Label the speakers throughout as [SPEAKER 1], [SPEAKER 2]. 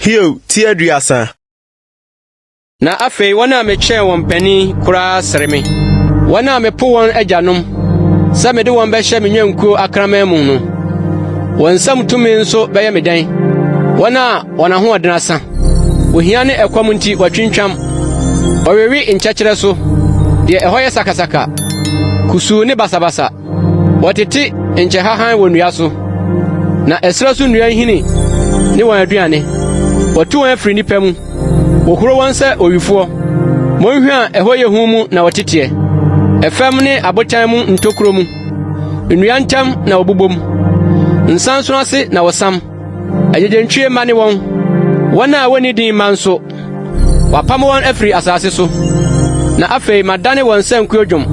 [SPEAKER 1] Hiob ti aduasa.
[SPEAKER 2] Na afei wɔn a mekyɛɛ wɔn panin koraa sere me, wɔn a mepo wɔn agyanom sɛ mede wɔn bɛhyɛ me nnwankuo akraman mu no, wɔn nsam tumi nso bɛyɛ me dɛn? Wɔn a Wɔn ahoɔden asa. Ohia ne ɛkɔm nti wɔatwintwam. Wɔwewe nkyɛkyerɛ so. Deɛ ɛhɔ yɛ sakasaka, kusuu ne basabasa. Wɔtete nkyɛhahan wɔ nnua so, na ɛserɛ so nnua nhini ne wɔn aduane. Wɔatu wɔn afiri nnipa mu. Wɔhuro wɔn sɛ owifoɔ. Monhwa a ɛhɔ yɛ hu mu na wɔteteɛ. Ɛfam ne abotan mu ntokuro mu. Nnua ntam na wɔbobom. Nsansono ase na wɔsam. Agyegyentwie mma ne wɔn, wɔn a wɔnni din mma nso. Wɔapam wɔn afiri asase so. Na afei madane wɔn sankuo dwom,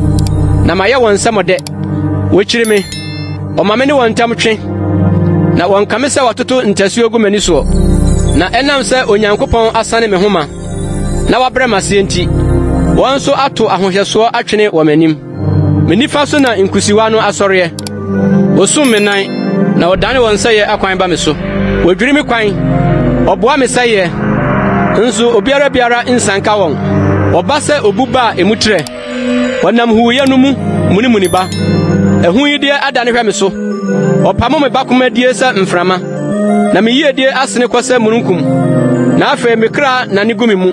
[SPEAKER 2] na mayɛ wɔn nsɛmɔdɛ. Wɔkyiri me, wɔma me ne wɔn ntam twe, na wɔnka me sɛ wɔatoto ntasuo gu m'ani soɔ. Na ɛnam sɛ Onyankopɔn asane me ho ma, na wabrɛ m'aseɛ nti, wɔn nso ato ahohyɛsoɔ atwene wɔ m'anim. Me nifa so na nkusiwa no asɔreɛ. Wɔsum me nan, na wɔdane wɔn nsɛeɛ akwan ba me so. Wɔdwiri me kwan, wɔboa me sɛeɛ, nso obiara biara nsanka wɔn. Wɔba sɛ obu ba a emu trɛ. Wɔnam huuyɛ no mu munimuni ba. Ahuyideɛ adane hwɛ me so. Wɔpamo me bakomadie sɛ mframa. na me yiedie asene kɔ sɛ mununkum, na afei me kra nane gu me mu.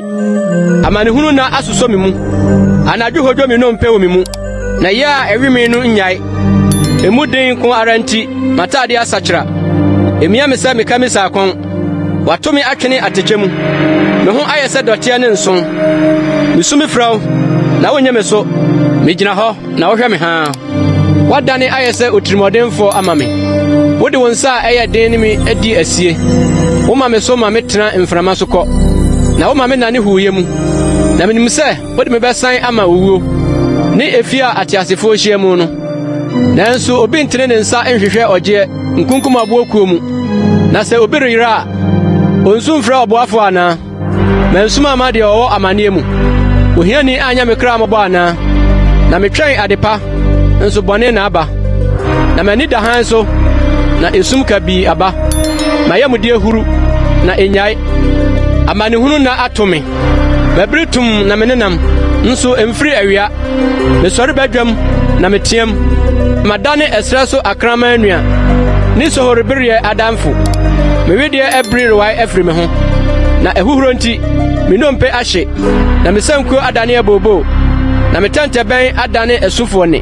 [SPEAKER 2] Amanehunu na asosɔ me mu, anadwo hodwo me nnompe wɔ me mu, na yɛ a ɛwe me no nnyae. Emu den ko ara nti, m'atade asakyera. Emia me sɛ meka me saakɔn. Wato me atwene atɛkyɛ mu. Me ho ayɛ sɛ dɔteɛ ne nson. Misu me frɛ wo, na wonyɛ me so. Migyina hɔ, na wohwɛ me haa. Woadane ayɛ sɛ otirimɔdenfoɔ ama me. Wode wo nsa a ɛyɛ den ne me di asie. Woma me so ma metena mframa so kɔ, na woma me nane huuyɛ mu. Na menim sɛ wode me bɛsan ama owuo, ne efie a ateasefoɔ hyia mu no. Nanso obi ntene ne nsa nhwehwɛ ɔgyeɛ nkunkum aboɔ kuo mu, na sɛ obi reyera a, ɔnsu mfrɛ ɔboafoɔ anaa? Mansuma amma deɛ ɔwɔ amaneɛ mu. Ohiani anyɛ me kra mmɔbɔ anaa? Na metwɛn adepa, nso bɔne na aba. Na m'ani da hann so, na esum kabii aba. M'ayamdeɛ huru, na ennyae. Amanehunu nna ato me. Mabiri tumm na menenam, nso emfiri awia. Mesɔre badwam na meteɛm, madane ɛserɛ so akraman nua ne sohoribereɛ adamfo. Me wedeɛ abiri rewae afiri me ho, na ahuhuro nti me nnompe ahye, na me sankuo adane abooboo, na me tɛntɛbɛn adane asufoɔ nne.